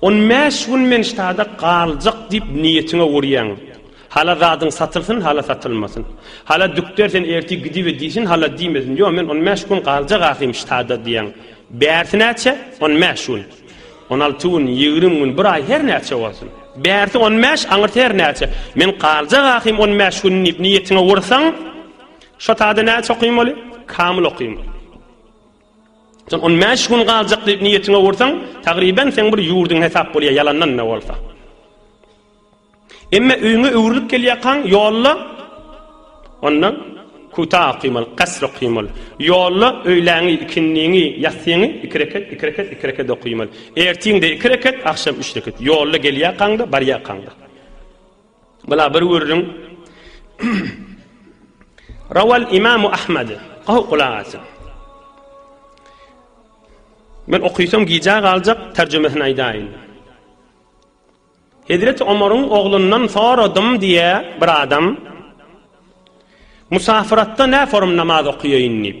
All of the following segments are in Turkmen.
On bäş gün men ştada galjak diýip niýetiňe urýaň. Hala zadyň satylsyn, hala satylmasyn. Hala dükder sen ertir gidiber diýsin, hala diýmesin. Ýok, men on bäş gün galjak ahym ştada diýýäň. Bärsi näçe? On bäş gün. On alty gün, ýigrimi gün, bir aý, her näçe bolsun. Bärsi on bäş, aňyrsy her näçe. Men galjak ahym on bäş gün diýip niýetiňe ursaň, şo tada näçe okymmaly? Kamyl okymmaly. Sen on bäş gün galjak diýip niýetiňe ursaň, tagryban seň bir ýurduň hesap bolýar, ýalandan-da bolsa. Emma öýüňe öwrülip gelýärkaň, ýolda onda kuta okymaly, kasr okymaly. Ýolda öýläňi, ikindiňi, ýatsyňy iki rekat, iki rekat, iki rekat okymaly. Ertiň-de iki rekat, agşam üç rekat. Ýolda gelýärkaň-da, barýarkaň-da. Bula bir gürrüň Rawal Imam Ahmad. Gowy gulak asyň. Men okysam gijä galjak terjimesini aýdaýyn. Hezreti Omaryň oglundan soradym diýä bir adam. Musafyratda nä forum namaz okaýaýyn diýip.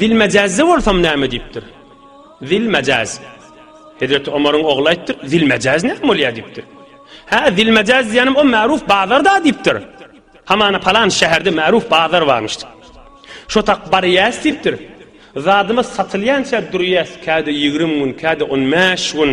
Zilmejazda bolsam näme diýipdir? Zilmejaz. Hezreti Omaryň ogly aýtdyr, Zilmejaz näme bolýar diýipdir. Hä, Zilmejaz diýýänim o märuf bazar-da diýipdir. Hamana palan şäherde märuf bazar barmyş. Şotak barýas diýipdir. Zadymyz satylýança durýas, käde ýigrimi gün, käde on bäş gün.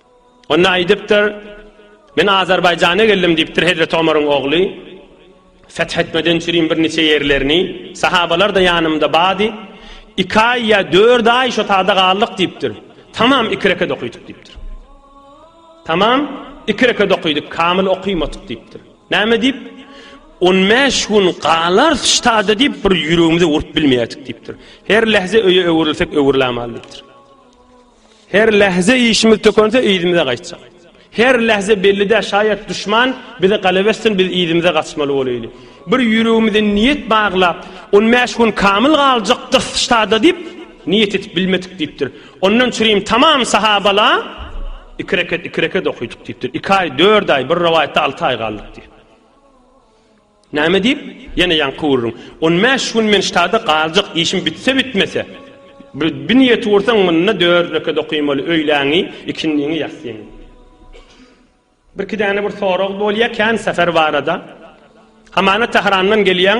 Onda aýdypdyr, Men Azerbaýjana geldim diýipdir Hezreti Omaryň ogly. Feth etmeden çürin bir niçe ýerlerini, sahabalar-da ýanymda bady. Iki aý ýa dört aý şo tada galdyk diýipdir. Tamam iki rekat okydyk diýipdir. Tamam iki rekat okydyk, kamyl okymadyk diýipdir. Näme diýip? On bäş gün galarys şu tada diýip bir ýüregimize urup bilmeýärdik diýipdir. Her lähze öýe öwrülsek öwrülämal diýipdir. Her lähze işimiz tökense yzymyza gaýtjak. Her lähze belli däl şaýat duşman bize galebe etsin biz yzymyza gaçmaly bolaýly. Bir ýüregimize niýet baglap on bäş gün kamyl galjak gysyştada diýip niýet edip bilmedik diýipdir. Ondan çyrim tamam sahabala iki reket iki reket okydyk diýipdir. Iki aý dört aý bir rowaýatda alty aý galdyk diýip. Näme diýip, ýene ýaňky gürrüň. On bäş gün men ştada galjak, işim bitse-bitmese. Bir niýeti gursaň, munda dört rekat okymaly, öýläňi, ikindiňi, ýassyňy. Birki däne bir sorag bolýar kän säher barada. Hamana Tährandan gelýäň.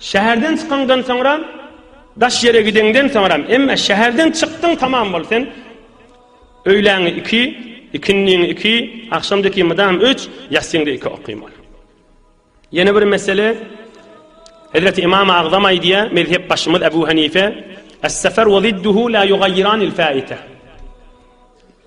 Şäherden çykaňdan soňra, daş ýere gideňden soňra, emme şäherden çykdyň tamam bol sen, öýläňi iki, ikindiňi iki, agşamdiki mydam üç, ýassyňda iki okym ol. Ýene bir mesele, Hezreti Imam Agzam aýdýa, mezhep başymyz Ebu Hanife, Es-sefer we zidduhu la yugayyirani l-faite.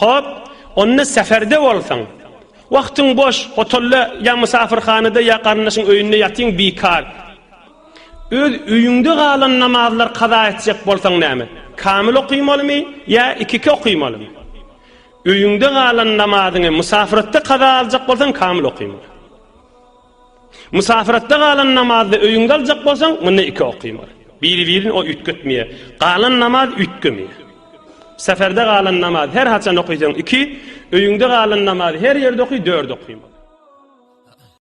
Hop, onda säferde bolsaň, wagtyň boş, hotelda ýa mysafyrhanada ýa garyndaşyň öýünde ýatyň bikar. Öz öýüňde galan namazlary kaza etjek bolsaň näme? Kamyl okymalymy ýa iki-iki okymalymy? Öýüňde galan namazyňy mysafyratda kaza aljak bolsaň kamyl okymaly. Mysafyratda galan namazda öýüň galjak bolsaň, munda iki okymaly. Biri-birini o üýtgetmeýär. Galan namaz üýtgemeýär. Seferde galan namaz her haçan okysaň iki, öýüňde galan namaz her ýerde oky dört okymaly.